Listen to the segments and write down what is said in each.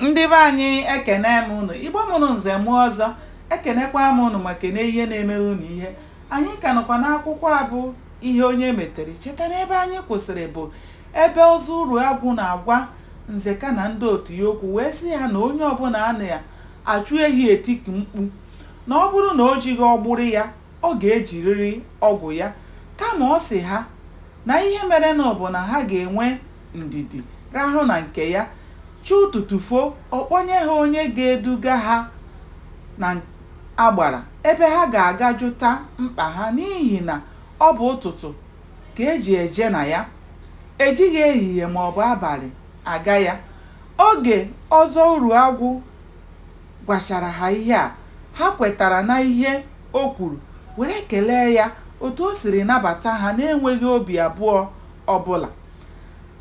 Ndị be anyị ekene m unu Igbo mụrụ nze mụọ ọzọ ekenekwa m unu ma kene ihe na-emere unu ihe anyị ka nọkwa n'akwụkwọ a bụ ihe onye metere cheta na ebe anyị kwụsịrị bụ ebe Ọzọ Uruagwụ na-agwa Nzeka na ndị otu ya okwu wee sị ha na onye ọbụla a na-achụ ehi etiku mkpu na ọ bụrụ na o jighị ọgbụrụ ya ọ ga-ejiriri ọgwụ ya kama ọ sị ha na ihe merenụ bụ na ha ga-enwe ndidi rahụ na nke ya, chi ụtụtụ foo ọ kpọnye ha onye ga-eduga ha n'agbara ebe ha ga-aga jụta mkpa ha n'ihi na ọ bụ ụtụtụ ka e ji eje na ya, e jighị ehihie maọbụ abalị aga ya. Oge Ọzọ Uruagwụ gwachara ha ihe a, ha kwetara n'ihe o kwuru were kelee ya otu o siri nabata ha na-enweghị obi abụọ ọbụla.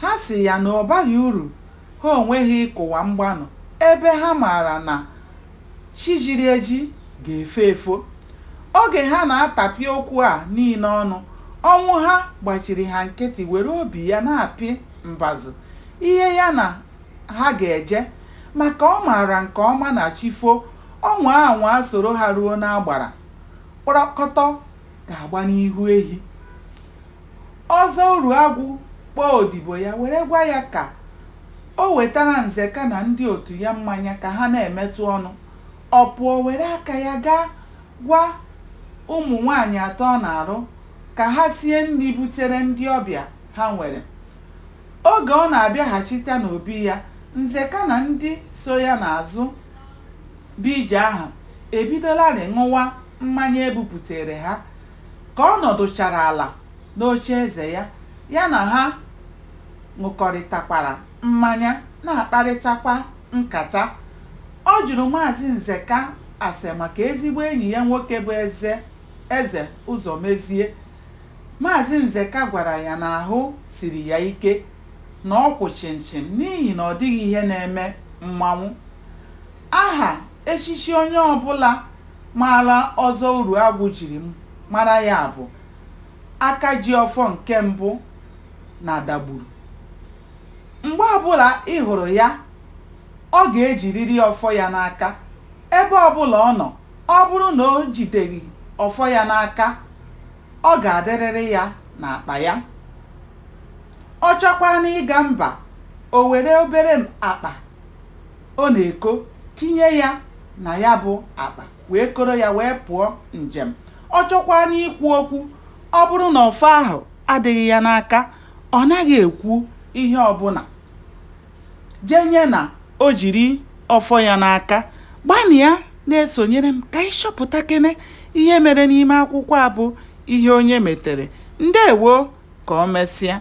Ha sị ya na ọ baghị uru ha onwe ha ịkụwa mgbanụ ebe ha maara na chi jiri eji ga-efo efo. Oge ha na-atapị okwu a niile ọnụ, Ọnwụha gbachiri ha nkịtị were obi ya na-apị mbazụ ihe ya na ha ga-eje maka ọ maara nke ọma na chi fo, ọ nwaa anwaa soro ha ruo n'agbara, kpọrọkọtọ ga-agba n'ihu ehi. Ọzọ Uruagwụ kpọọ odibo ya were gwa ya ka o wetara Nzeka na ndị otu ya mmanya ka ha na-emetụ ọnụ. Ọ pụọ were aka ya gaa gwa ụmụ nwaanyị atọ ọ na-arụ ka ha sie nri butere ndị ọbịa ha nwere. Oge ọ na-abịaghachita n'obi ya, Nzeka na ndị so ya n'azụ bịa ije ahụ ebidolarị ṅụwa mmanya e buputeere ha. Ka ọ nọdụchara ala n'ocheeze ya, ya na ha ṅụkọrịtakwara mmanya, na-akparịtakwa nkata. Ọ jụrụ Maazị Nzeka ase maka ezigbo enyi ya nwoke bụ Eze Eze Ụzọmezie. Maazị Nzeka gwara ya na ahụ siri ya ike, na ọ kwụ chịmchịm n'ihi na ọ dịghị ihe na-eme mmanwụ. Aha echichi onye ọbụla maara Ọzọ Uruagwụ jiri mara ya bụ Akajiọfọ nke mbụ n'Adagburu. Mgbe ọbụla ị hụrụ ya, ọ ga-ejiriri ọfọ ya n'aka. Ebe ọbụla ọ nọ, ọ bụrụ na o jideghị ọfọ ya n'aka, ọ ga-adịrịrị ya n'akpa ya. Ọ chọkwanụ ịga mba, o were obere akpa o na-eko tinye ya na ya bụ akpa wee koro ya wee pụọ njem ọ chọkwaanụ ikwu okwu ọ bụrụ na ọfọ ahụ adịghị ya n'aka ọ naghị ekwu ihe ọbụla jenye na o jiri ọfọ ya n'aka gbanịa na-esonyere m ka ị chọpụtakene ihe mere n'ime akwụkwọ a bụ ihe onye metere ndewo ka ọ mesịa